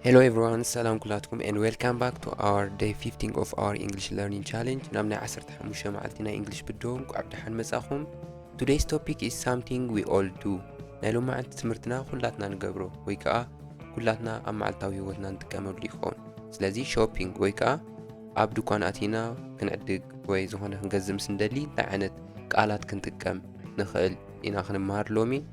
Hello everyone, ሰላም ኩላትኩም and welcome back to our day 15 of our English learning challenge ናብ ናይ 15 መዓልቲ ናይ እንግሊሽ ብድሆ እንቋዕ ብደሓን መጻኹም Today's topic is something we all do ናይ ሎሚ መዓልቲ ትምህርትና ኩላትና ንገብሮ ወይ ከዓ ኩላትና ኣብ መዓልታዊ ህይወትና ንጥቀመሉ ይኸውን ስለዚ ሾፒንግ ወይ ከዓ ኣብ ድኳን ኣቲና ክንዕድግ ወይ ዝኾነ ክንገዝእ ምስ እንደሊ እንታይ ዓይነት ቃላት ክንጥቀም ንኽእል ኢና ክንመሃር ሎሚ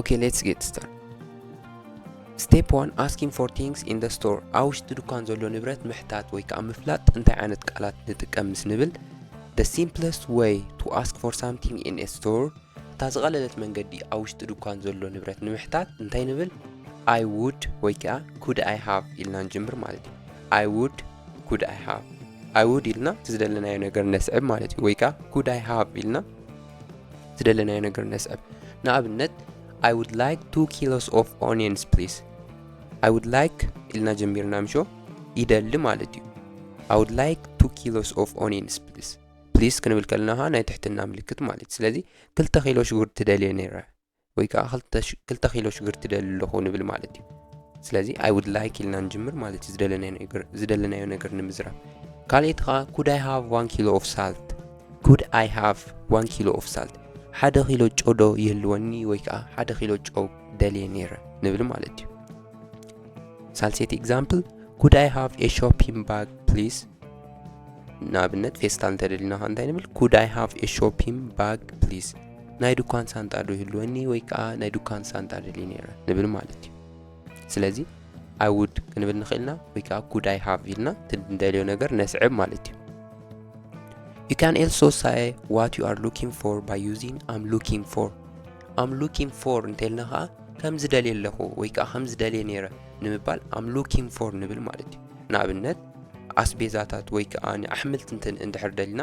ኦኬ ሌትስ ጌት ስታር ስቴፕ ዋን ኣስኪን ፎር ቲንግስ ኢን ደ ስቶር ኣብ ውሽጢ ድኳን ዘሎ ንብረት ምሕታት ወይ ከዓ ምፍላጥ እንታይ ዓይነት ቃላት ንጥቀም ምስ ንብል ደ ሲምፕለስት ወይ ቱ ኣስክ ፎር ሳምቲንግ ኢን ኤ ስቶር እታ ዝቐለለት መንገዲ ኣብ ውሽጢ ድኳን ዘሎ ንብረት ንምሕታት እንታይ ንብል ኣይ ውድ ወይ ከዓ ኩድ ኣይ ሃቭ ኢልና ንጅምር ማለት እዩ ኣይ ውድ ኩድ ኣይ ሃቭ ኣይ ውድ ኢልና ዝደለናዮ ነገር ነስዕብ ማለት እዩ ወይ ከዓ ኩድ ኣይ ሃቭ ኢልና ዝደለናዮ ነገር ነስዕብ ንኣብነት ኣይ ውድ ላይክ ቱ ኪሎስ ኦፍ ኦኒየንስ ፕሊስ ኣይ ውድ ላይክ ኢልና ጀሚርና ምሾ ይደሊ ማለት እዩ ኣይ ውድ ላይክ ቱ ኪሎስ ኦፍ ኦኒየንስ ፕሊስ ፕሊስ ክንብል ከለና ኸዓ ናይ ትሕትና ምልክት ማለት እዩ ስለዚ ክልተ ኪሎ ሽጉርቲ ትደልየ ነይረ ወይ ከዓ ክልተ ኪሎ ሽግርቲ ደሊ ኣለኹ ንብል ማለት እዩ ስለዚ ኣይ ውድ ላይክ ኢልና ንጅምር ማለት እዩ ዝደለናዮ ነገር ንምዝራብ ካልኦት ከዓ ኩድ ኣይ ሃቭ ዋን ኪሎ ኦፍ ሳልት ኩድ ኣይ ሃቭ ዋን ኪሎ ኦፍ ሳልት ሓደ ኪሎ ጨው ዶ ይህልወኒ ወይ ከዓ ሓደ ኪሎ ጨው ደልየ ነይረ ንብል ማለት እዩ ሳልሴቲ ኤግዛምፕል ኩድ ኣይ ሃቭ ኤ ሾፒንግ ባግ ፕሊዝ ንኣብነት ፌስታል እንተደሊና ከ እንታይ ንብል ኩድ ኣይ ሃቭ ኤ ሾፒንግ ባግ ፕሊዝ ናይ ዱኳን ሳንጣ ዶ ይህልወኒ ወይ ከኣ ናይ ዱኳን ሳንጣ ደልየ ነይረ ንብል ማለት እዩ ስለዚ ኣይ ውድ ክንብል ንኽእል ኢና ወይ ከኣ ኩድ ኣይ ሃቭ ኢልና እቲ ንደልዮ ነገር ነስዕብ ማለት እዩ You can also say what you are looking for by using I'm looking for. I'm looking for እንተልና ከዓ ከም ዝደልየ ኣለኹ ወይ ከዓ ከም ዝደልየ ነይረ ንምባል I'm looking for ንብል ማለት እዩ። ንኣብነት ኣስቤዛታት ወይ ከዓ ንኣሕምልቲ እንድሕር ደሊና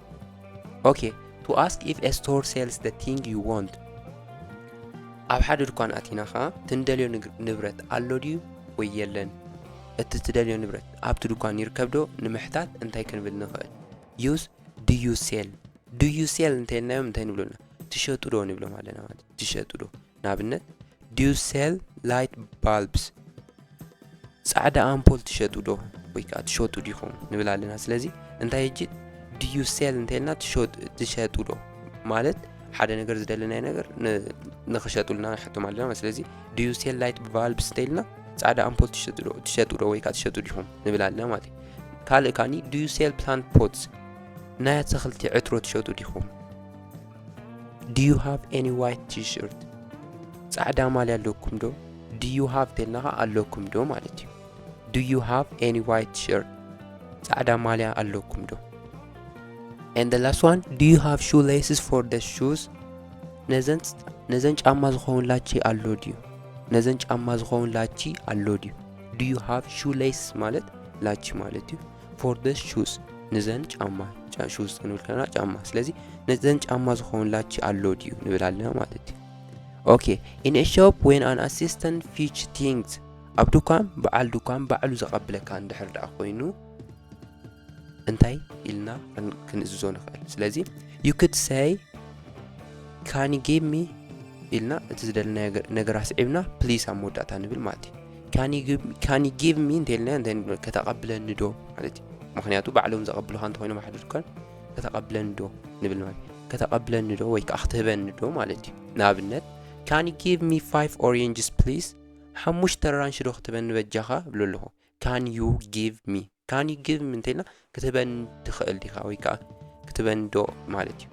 ኦኬ ቱ ኣስክ ኢፍ ኤ ስቶር ሴልስ ደ ቲንግ ዩ ወንት ኣብ ሓደ ድኳን ኣቲና ኸዓ ትንደልዮ ንብረት ኣሎ ድዩ ወይ የለን እቲ ትደልዮ ንብረት ኣብቲ ድኳን ይርከብ ዶ ንምሕታት እንታይ ክንብል ንኽእል ዩስ ድዩ ሴል ድዩ ሴል እንተይልናዮም እንታይ ንብሎና ትሸጡ ዶ ንብሎም ኣለና ማለት ትሸጡ ዶ ንኣብነት Do you sell light bulbs? ጻዕዳ ኣምፖል ትሸጡ ዶ ወይ ከዓ ትሸጡ ዲኹም ንብል ኣለና ስለዚ እንታይ እጂ Do you sell እንተልና ትሸጡ ዶ ማለት ሓደ ነገር ዝደለናይ ነገር ንክሸጡልና ንሓቶም ኣለና ስለዚ Do you sell light bulbs እንተልና ጻዕዳ ኣምፖል ትሸጡ ዶ ወይ ከዓ ትሸጡ ዲኹም ንብል ኣለና ማለት እዩ ካልእ ካኒ Do you sell plant pots ናይ ኣትክልቲ ዕትሮ ትሸጡ ዲኹም ዲዩ ሃቭ ኤኒ ዋይት ቲሽርት ጻዕዳ ማልያ ኣለኩም ዶ ዲዩ ሃቭ ተልና ኸዓ ኣለኩም ዶ ማለት እዩ ዲዩ ሃቭ ኤኒ ዋይት ቲሽርት ጻዕዳ ማልያ ኣለኩም ዶ and the last one do you have shoe laces for the shoes ነዘን ነዘን ጫማ ዝኸውን ላቺ ኣሎ ድዩ ነዘን ጫማ ዝኸውን ላቺ ኣሎ ድዩ do you have shoe laces ማለት ላቺ ማለት እዩ ፎር ደስ ሹዝ ንዘን ጫማ ሹዝ ክንብል ከለና ጫማ ስለዚ ነዘን ጫማ ዝኾንላች ኣሎ ድዩ ንብል ኣለና ማለት እዩ ኦኬ ኢን ኤ ሾፕ ወን ኣን ኣሲስተንት ፊች ቲንግስ ኣብ ድኳን በዓል ድኳን ባዕሉ ዘቐብለካ እንድሕር ደኣ ኮይኑ እንታይ ኢልና ክንእዝዞ ንኽእል ስለዚ ዩ ክድ ሰይ ካኒ ጌሚ ኢልና እቲ ዝደለናዮ ነገር ኣስዒብና ፕሊስ ኣብ መወዳእታ ንብል ማለት እዩ ካን ዩ ጊቭ ሚ እንተልና ከተቐብለኒ ዶ ማለት እዩ ምክንያቱ ባዕሎም ዘቐብልኻ እንተኮይኖም ሓደ ድኳን ከተቐብለኒ ዶ ንብል ማለት ከተቐብለኒ ዶ ወይ ከዓ ክትህበኒ ዶ ማለት እዩ ንኣብነት ካን ዩ ጊቭ ሚ ፋይቭ ኦሬንጅስ ፕሊስ ሓሙሽተ ራንሽ ዶ ክትህበኒ በጃኻ እብሎ ኣለኹ ካን ዩ ጊቭ ሚ ካን ዩ ጊቭ ሚ እንተኢልና ክትህበኒ ትኽእል ዲኻ ወይ ከዓ ክትህበኒ ዶ ማለት እዩ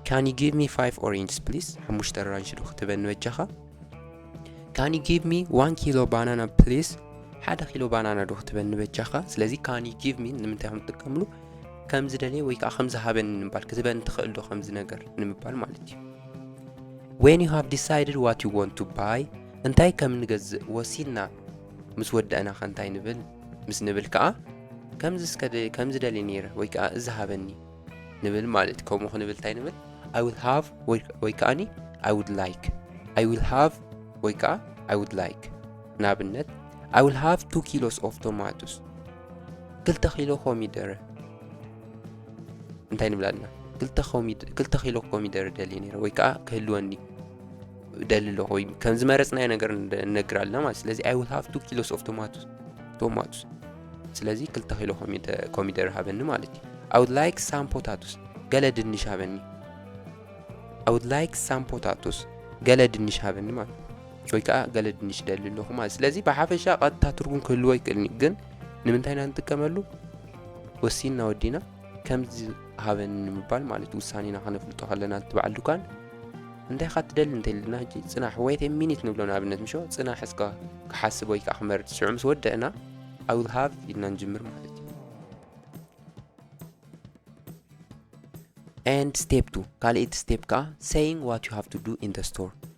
ካን ዩ ጊቭ ሚ ፋይቭ ኦሬንጅስ ፕሊስ ሓሙሽተ ኣራንሽ ዶ ክትህበኒ በጃኻ ካን ዩ ጊቭ ሚ ዋን ኪሎ ባናና ፕሊስ ሓደ ኪሎ ባናና ዶ ክትበኒ በጃኻ ስለዚ ካን ዩ ጊቭ ሚ ንምንታይ ከም ትጥቀምሉ ከም ዝደለየ ወይ ከዓ ከም ዝሃበኒ ንምባል ክትበኒ ትኽእል ዶ ከምዚ ነገር ንምባል ማለት እዩ ዌን ዩ ሃቭ ዲሳይድድ ዋት ዩ ወንት ቱ ባይ እንታይ ከም ንገዝእ ወሲንና ምስ ወዳእና ከ እንታይ ንብል ምስ ንብል ከኣ ከምዚ እስከ ከምዚ ደልየ ነይረ ወይ ከኣ እዚ ሃበኒ ንብል ማለት እዩ ከምኡ ክንብል እንታይ ንብል ኣይ ዊል ሃቭ ወይ ከኣኒ ኣይ ውድ ላይክ ኣይ ዊል ሃቭ ወይ ከኣ ኣይ ውድ ላይክ ንኣብነት ኣይ ዊል ሃቭ ቱ ኪሎስ ኦፍ ቶማቶስ ክልተ ኪሎ ኮሚደረ እንታይ ንብል ኣለና ክልተ ኪሎ ኮሚደረ ደልየ ነይረ ወይ ከኣ ክህልወኒ ደሊ ኣለኹ ወይ ከም ዝመረፅናዮ ነገር ንነግር ኣለና ማለት ስለዚ ኣይ ውል ሃቭ ቱ ኪሎስ ኦፍ ቶማቶስ ቶማቶስ ስለዚ ክልተ ኪሎ ኮሚደረ ሃበኒ ማለት እዩ ኣይ ውድ ላይክ ሳም ፖታቶስ ገለ ድንሽ ሃበኒ ኣይ ውድ ላይክ ሳም ፖታቶስ ገለ ድንሽ ሃበኒ ማለት ወይ ከዓ ገለ ድንሽ ደሊ ኣለኹ ማለት ስለዚ ብሓፈሻ ቀጥታ ትርጉም ክህልዎ ይክእልኒ ግን ንምንታይ ኢና ንጥቀመሉ ወሲንና ወዲና ከምዚ ሃበኒ ንምባል ማለት ውሳኔና ከነፍልጦ ከለና እቲ በዓል ድኳን እንታይ ካ ትደሊ እንተልና ሕጂ ጽናሕ ወይት ሚኒት ንብሎ ንኣብነት ምሾ ጽናሕ እስከ ክሓስብ ወይ ከዓ ክመርጽ ሽዑ ምስ ወደእና ኣይ ዊል ሃቭ ኢልና ንጅምር ማለት እዩ ኤንድ ስቴፕ ቱ ካልእቲ ስቴፕ ከዓ ሰይንግ ዋት ዩ ሃቭ ቱ ዱ ኢን ደ ስቶር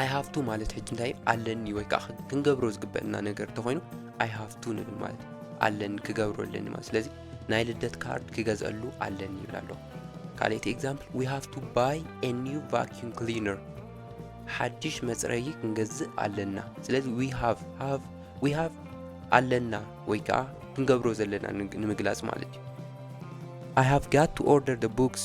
ኣይ ሃቭ ቱ ማለት ሕጂ እንታይ እዩ ኣለኒ ወይ ከዓ ክንገብሮ ዝግበአና ነገር እንተኾይኑ ኣይ ሃቭ ቱ ንብል ማለት እዩ ኣለኒ ክገብሮ ኣለኒ ማለት ስለዚ ናይ ልደት ካርድ ክገዝአሉ ኣለኒ ይብል ኣሎ ካልኣይቲ ኤግዛምፕል ዊ ሃቭ ቱ ባይ ኤ ኒው ቫኪዩም ክሊነር ሓድሽ መፅረዪ ክንገዝእ ኣለና ስለዚ ዊ ሃቭ ሃቭ ዊ ሃቭ ኣለና ወይ ከዓ ክንገብሮ ዘለና ንምግላፅ ማለት እዩ ኣይ ሃቭ ጋት ቱ ኦርደር ደ ቡክስ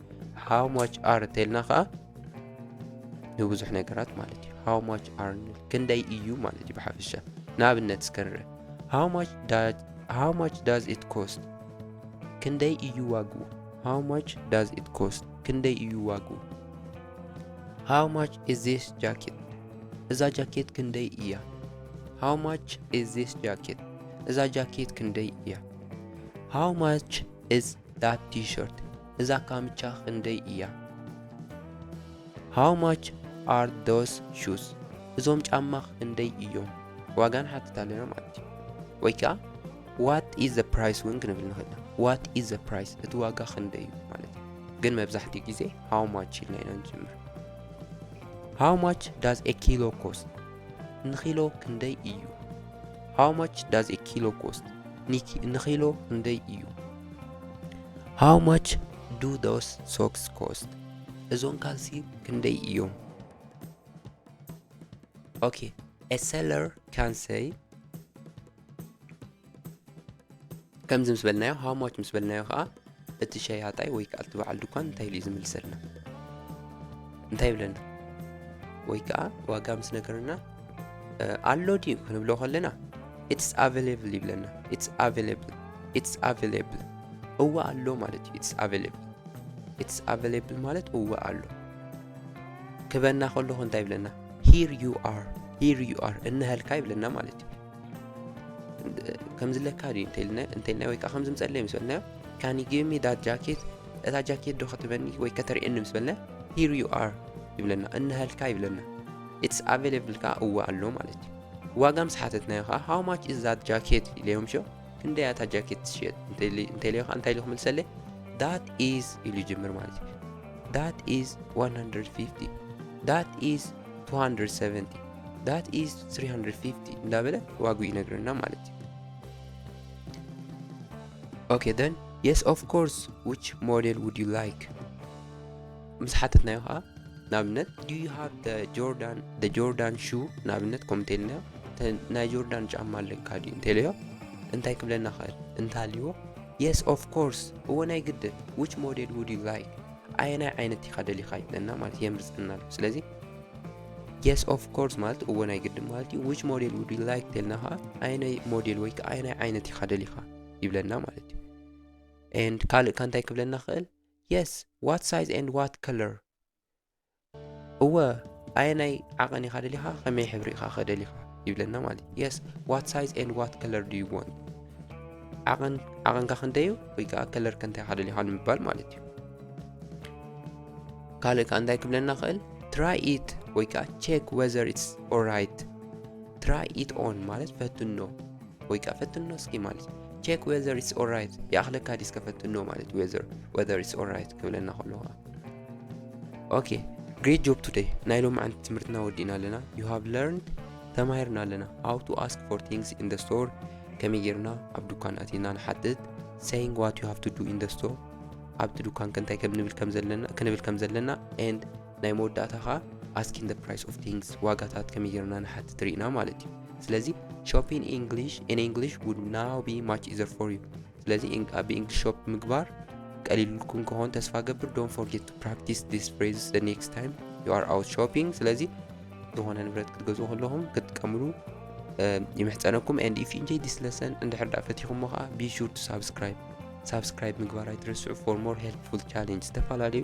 ሃው ማች ኣር እንተልና ከዓ ንብዙሕ ነገራት ማለት እዩ ሃው ማች ኣር ንብል ክንደይ እዩ ማለት እዩ ብሓፈሻ ንኣብነት እስከ ንርአ ሃው ማች ዳዝ ኢት ኮስት ክንደይ እዩ ዋግኡ ሃው ማች ዳዝ ኢት ኮስት ክንደይ እዩ ዋግኡ ሃው ማች ኢዝ ዚስ ጃኬት እዛ ጃኬት ክንደይ እያ ሃው ማች ኢዝ ዚስ ጃኬት እዛ ጃኬት ክንደይ እያ ሃው ማች ኢዝ ዳት ቲሸርት እዛ ካምቻ ክንደይ እያ? How much are those shoes? እዞም ጫማ ክንደይ እዮም? ዋጋ ንሓትት ኣለና ማለት እዩ። ወይ ከዓ ዋት ኢዝ ዘ ፕራይስ እውን ክንብል ንኽእል ኢና። ዋት ኢዝ ዘ ፕራይስ እቲ ዋጋ ክንደይ እዩ ማለት እዩ። ግን መብዛሕትኡ ግዜ ሃው ማች ኢልና ኢና ንጅምር። ሃው ማች ዳዝ ኤ ኪሎ ኮስት ንኪሎ ክንደይ እዩ? ሃው ማች ዳዝ ኤ ኪሎ ኮስት ንኪሎ ክንደይ እዩ? ሃው ማች ዱ ዶስ ሶክስ ኮስት እዞም ካልሲ ክንደይ እዮም ኦኬ ኤ ሰለር ካን ሰይ ከምዚ ምስ በልናዮ ሃው ማች ምስ በልናዮ ከዓ እቲ ሸያጣይ ወይ ከዓ እቲ በዓል ድኳን እንታይ ኢሉ እዩ ዝምልሰልና እንታይ ይብለና ወይ ከዓ ዋጋ ምስ ነገርና ኣሎ ድዩ ክንብሎ ከለና ኢትስ ኣቨለብል ይብለና ኢትስ ኣቨለብል ኢትስ ኣቨለብል እወ ኣሎ ማለት እዩ ኢትስ ኣቨለብል ኢትስ ኣቨለብል ማለት እወ ኣሎ ክበና ከለኹ እንታይ ይብለና ሂር ዩ ኣር ሂር ዩ ኣር እነሀልካ ይብለና ማለት እዩ ከምዝለካ ድዩ እንተልና ወይ ከዓ ከምዚ ምፀለይ ምስ በልናዮ ካን ዩ ጊቭ ሚ ዳት ጃኬት እታ ጃኬት ዶ ከተበኒ ወይ ከተርእየኒ ምስ በልና ሂር ዩ ኣር ይብለና እነሀልካ ይብለና ኢትስ ኣቬለብል ከኣ እወ ኣሎ ማለት እዩ። ዋጋ ምስ ሓተትናዮ ከኣ ሃው ማች ኢዝ ዛት ጃኬት ኢለዮም ሸው ክንደይ እያ እታ ጃኬት ትሽየጥ እንተኢለዮ ከኣ እንታይ ኢሉ ክምልሰለይ ዳት ኢዝ ኢሉ ይጅምር ማለት እዩ ዳት ኢዝ 150 ዳት ኢዝ 270 ዳት ኢዝ 350 እንዳበለ ዋግኡ ይነግረና ማለት እዩ ኦኬ ደን የስ ኦፍ ኮርስ ዊች ሞዴል ውድ ዩ ላይክ ምስ ሓተትናዮ ኸኣ ንኣብነት ዱ ዩ ሃቭ ደ ጆርዳን ደ ጆርዳን ሹ ንኣብነት ከምኡ እንተኢልናዮ እተ ናይ ጆርዳን ጫማ ኣለካ ድዩ እንተኢለዮ እንታይ ክብለና ኽእል እንተሃልይዎ የስ ኦፍ ኮርስ እወ ናይ ግድን ዊች ሞዴል ውድ ዩ ላይክ ኣየናይ ዓይነት ኢኻ ደሊኻ ይብለና ማለት የምርፀና ኣሎ ስለዚ የስ ኦፍ ኮርስ ማለት እወ ናይ ግድን ማለት እዩ ዊች ሞዴል ውድ ዩ ላይክ ተልና ኸዓ ኣየናይ ሞዴል ወይ ከዓ ኣየናይ ዓይነት ኢኻ ደሊኻ ይብለና ማለት እዩ ኤንድ ካልእ ካ እንታይ ክብለና ኽእል Yes what size and what color እወ ኣየናይ ዓቐን ኢኻ ደሊኻ ከመይ ሕብሪ ኢኻ ከደሊኻ ይብለና ማለት እዩ የስ ዋት ሳይዝ ኤንድ ዋት ከለር ድዩ ወን ዓቐን ዓቐንካ ክንደዩ ወይ ከዓ ከለር ከንታይ ሓደ ሊኻ ንምባል ማለት እዩ ካልእ ከዓ እንታይ ክብለና ክእል ትራይ ኢት ወይ ከዓ ቼክ ወዘር ኢትስ ኦራይት ትራይ ኢት ኦን ማለት ፈትኖ ወይ ከዓ ፈትኖ እስኪ ማለት እዩ ቼክ ዌዘር ኢትስ ኦራይት ይኣኽለካ ዲስ ከፈትኖ ማለት ዌዘር ወዘር ኢትስ ኦራይት ክብለና ከሎ ከዓ ኦኬ ግሬት ጆብ ቱደይ ናይ ሎም ዓንቲ ትምህርትና ወዲእና ኣለና ዩ ሃቭ ለርንድ ተማሂርና ኣለና ሃው ቱ ኣስክ ፎር ቲንግስ ኢን ደ ስቶር ከመይ ጌርና ኣብ ዱካን ኣቲና ንሓትት ሰይንግ ዋት ዩ ሃቭ ቱ ዱ ኢን ደ ስቶር ኣብቲ ዱካን ከንታይ ክንብል ከም ዘለና ክንብል ከም ዘለና ኤንድ ናይ መወዳእታ ከኣ ኣስኪን ደ ፕራይስ ኦፍ ቲንግስ ዋጋታት ከመይ ጌርና ንሓትት ርኢና ማለት እዩ ስለዚ ሾፒን ኢንግሊሽ ኢን ኢንግሊሽ ውድ ናው ቢ ማች ኢዘር ፎር ዩ ስለዚ ብእንግሊሽ ሾፕ ምግባር ቀሊልኩም ከሆን ተስፋ ገብር ዶን ፎርጌት ቱ ፕራክቲስ ዲስ ፍሬዝ ዘ ኔክስት ታይም ዩ ኣር ኣውት ሾፒንግ ስለዚ ዝኾነ ንብረት ክትገዝኡ ከለኹም ክትጥቀምሉ ይምሕፀነኩም ኤንድ ኢፍ ኢንጆይ ዲስ ለሰን እንድሕር ዳ ፈቲኹሞ ከዓ ቢ ሹር ቱ ሳብስክራይብ ሳብስክራይብ ምግባር ኣይትረስዑ ፎር ሞር ሄልፕፉል ቻሌንጅ ዝተፈላለዩ